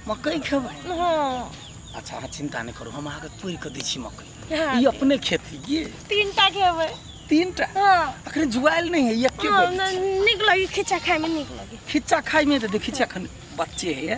मकई खेबै हाँ अच्छा अहाँ चिंता नहि करू हम अहाँके तोड़ि कऽ दै छी मकई हाँ, ई अपने खेती ये तीन टा खेबै तीन टा हाँ अखन जुआएल नहि है ये के हाँ, बोलै छै? न- नीक लगी खिच्चा खाइमे नीक लगी खिच्चा खाइमे तऽ देखै छियै अखन बच्चे है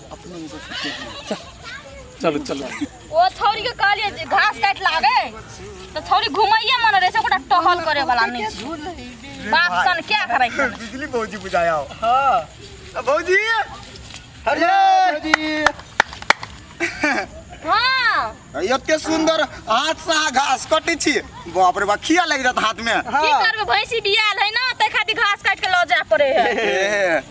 अपने इनको छुट्टी है। चल, चलो चलो ओ छौरी के कहलिए जे घास काट लावे तो छौरी घुमाइए मन रहे छै कोटा टहल करे वाला नहीं छै बाप सन क्या करे छै बिजली भौजी बुझाया हो हाँ भौजी अरे भौजी हां एते सुंदर हाथ से अहाँ घास कटै छी बाप रे बा खिया लागि जात हाथ में की करबे भैंसी बियाल है ना ते खातिर घास काट के ल जाय पड़े है ए,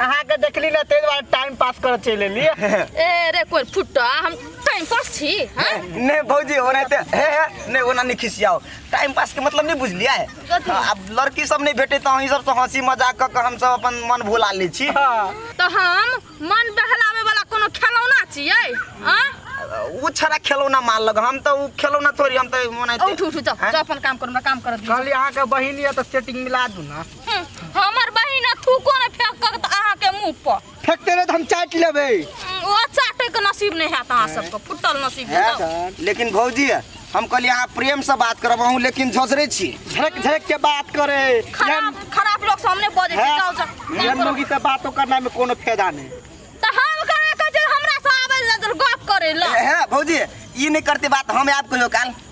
अहाँ के देखली ना तेज बार टाइम पास कर चले ली ए रे कोर फुट्टा हम टाइम पास छी हाँ? ने भौजी ओने ते हे हे ने ओना नहीं खिसियाओ टाइम पास के मतलब नहीं बुझलिया है कथी? हाँ, अब लड़की सब नहीं भेटे तो हम सब से हंसी मजाक क के हम सब अपन मन भुला ले छी तो हम मन बहलावे वाला कोनो खिलौना छियै हाँ? उ छरा खिलौना मार लग हम तो उ खिलौना थोड़ी हम तो मनाई उठ उठ जाओ जाओ अपन काम करो हमरा काम कर दियो कहली अहाँ के बहिन ये तो सेटिंग मिला दू ना हम्म, हमर बहिन आ थूको ने फेंक कऽ तऽ अहाँके मुँह पर फेंकते रहे तो हम चाट लेबे हम्म, ओ चाटे के नसीब नहीं हैत अहाँ सबके फुटल नसीब है हैत। सर लेकिन भौजी हम कहलिए अहाँ प्रेम से बात करब अहूँ लेकिन झसरे छी झड़क झड़क के बात करे खराब खराब लोग सामने बजे छै जाओ जाओ ये लोग से बातों करना में कोनो फायदा नहीं तऽ हम कहाँ कहै छै हमरा से आबै लए गप करे लए है भौजी ई नहीं करते बात हम आब कहियो काल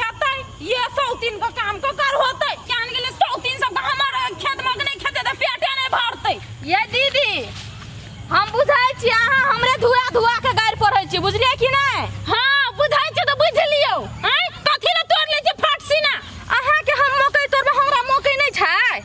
हेतै ये सौतीन के काम के कर होतै जान गेले सौतीन सब हमर खेत में के नहीं खेते त पेटे नहीं भरतै ये दीदी हम बुझाई छी अहाँ हमरे धुआ धुआ के गाड़ पढ़ै छी बुझलिए कि नहीं हां बुझाई छी त बुझ लियो हैं कथि ले तोड़ ले छी फाट सीना अहाँ के हम मकई तोड़बे हमरा मकई नहीं छै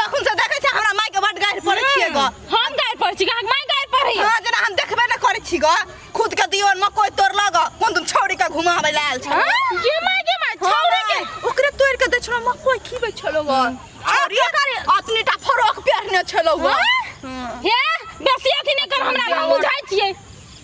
तखन से देखै छै हमरा माय के बड गाइर पड़ै छियै ग हम गाय पर छी अहाँ माय गाय पर रही हां जेना हम देखबे न करै छी ग खुद के दियोर में कोई तोड़ लग कोन तुम छौड़ी के घुमाबै ले आयल छ ये माय के माय छौड़े के ओकरे तोड़ के दै छलो मकोई खीबै छलो ग छौड़ी अपनी टा फरोक पहनने छलो ग हे बेसी अथी नै कर हमरा हम बुझाइ छियै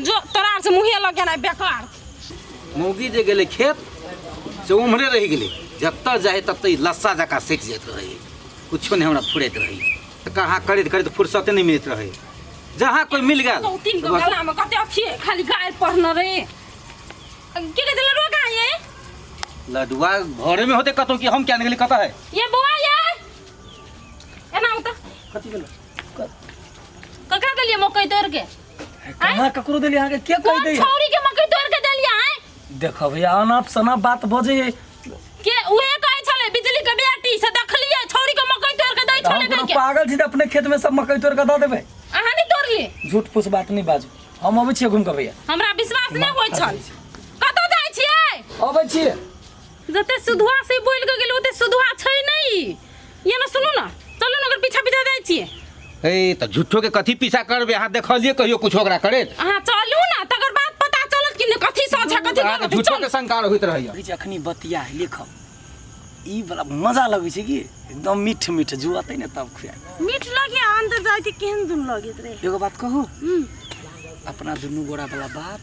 जो तोरा से मुहे लग गेना बेकार मौगी जे गेलै खेत से उम्हरे रहि गेलै जतऽ जाए ततऽ लस्सा जकाँ सटि जाइत रहै किछो नहि हमरा फुरैत रहै कहाँ करैत करैत फुर्सते नहि मिलैत रहै जहाँ कोइ मिल गेल तीन गो गला में कते अथी खाली गाय पढ़ने रहे की कहते लड़ुआ कहाँ ये लडुआ घरे में होते कतौ कि हम क्या निकली कतऽ है ये बौआ ये एना होता कथी भेल ककरा देलिए मकई तोड़ के कहाँ ककरो देली अहाँके के कह कौन दे छौरी के मकई तोड़ के देलिया है देखो भैया अनाप सनाप बात बजे के उहे कहै छले बिजली के बेटी से देखलिए छौरी के मकई तोड़ के दै हम छले कोनो के पागल छी त अपने खेत में सब मकई तोड़ के दऽ देबै अहाँ नहीं तोड़ली झूठ फूस बात नहीं बाजू हम अबै छियै घूम के भैया हमरा विश्वास नहीं होय छल कतौ जाय छियै अबै छियै जते सुधुआ से बोल के गेल ओते सुधुआ छै नहीं ये ना सुनो ना चलो ना ओकर पीछा पीछा जाय छिए ए त झूठो के कथी पीछा करबे अहाँ देखलिए कहियो कुछ ओकरा करे अहाँ चलू ना तकर बाद पता चलत कि ने कथी साँच है कथी अहाँ त गलत है। झूठो चल के शंका होइत रहैया कहै छै अखनी बतिया है लेखब ई बला मजा लगै छै कि एकदम मीठ मीठ जुआतै ने तब खुआ मीठ लगे अंदर जाय के केहन दुन लगैत रहे एगो बात कहू हम्म, अपना दुनू गोरा वाला बात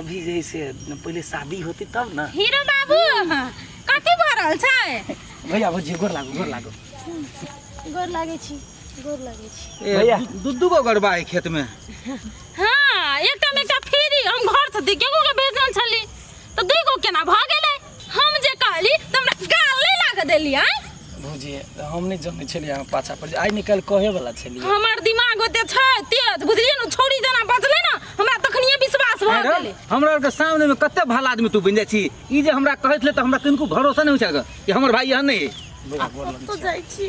अभी जैसे पहिले शादी होती तब न हीरो बाबू कथी भऽ रहल छै भैया भौजी गोर लागो गोर लागो गोर लागै छी गोर लागै छी भैया। ए, दू दू गो गड़बा है खेत में हाँ एकटा में एकटा फ्री हम घर से दिखे को के भेजल छली तो दुई गो केना भऽ गेलै हम जे कहली तऽ हमरा गाल नहि लागऽ देली आँय भौजी तऽ हम नहि जनै छलियै अहाँ पाछा पर आइ निकाल कहे वाला छलियै हमर दिमाग ओते छै तेज बुझलियै ने छौरी जेना बजलै ने हमरा तखनिए विश्वास भऽ आँय रौ, गेलै हमरा आरके सामने में कते भला आदमी तू बनि जाइ छी ई जे हमरा कहै छलै तऽ हमरा किनको भरोसा नहि होइ छै कि हमर भाई एहन नहि है बुरा बोलल तो जाइ छी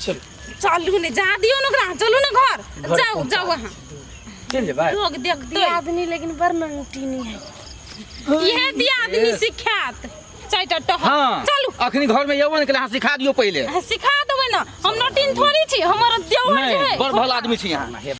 चल चलू ने जा दियो ने ओकरा चलू ने घर घर जाओ पहुंचा जाओ वहाँ चल जे भाई लोग देखते आदमी लेकिन बड़ नंगटी नहीं है ये दिया आदमी सिखात चाइटा टह हाँ चलू अखनी घर में यवन के हाथ सिखा दियो पहले सिखा देबै ना हम नटिन थोड़ी छी हमर देवर नहीं जे है बड़ भला आदमी छी यहाँ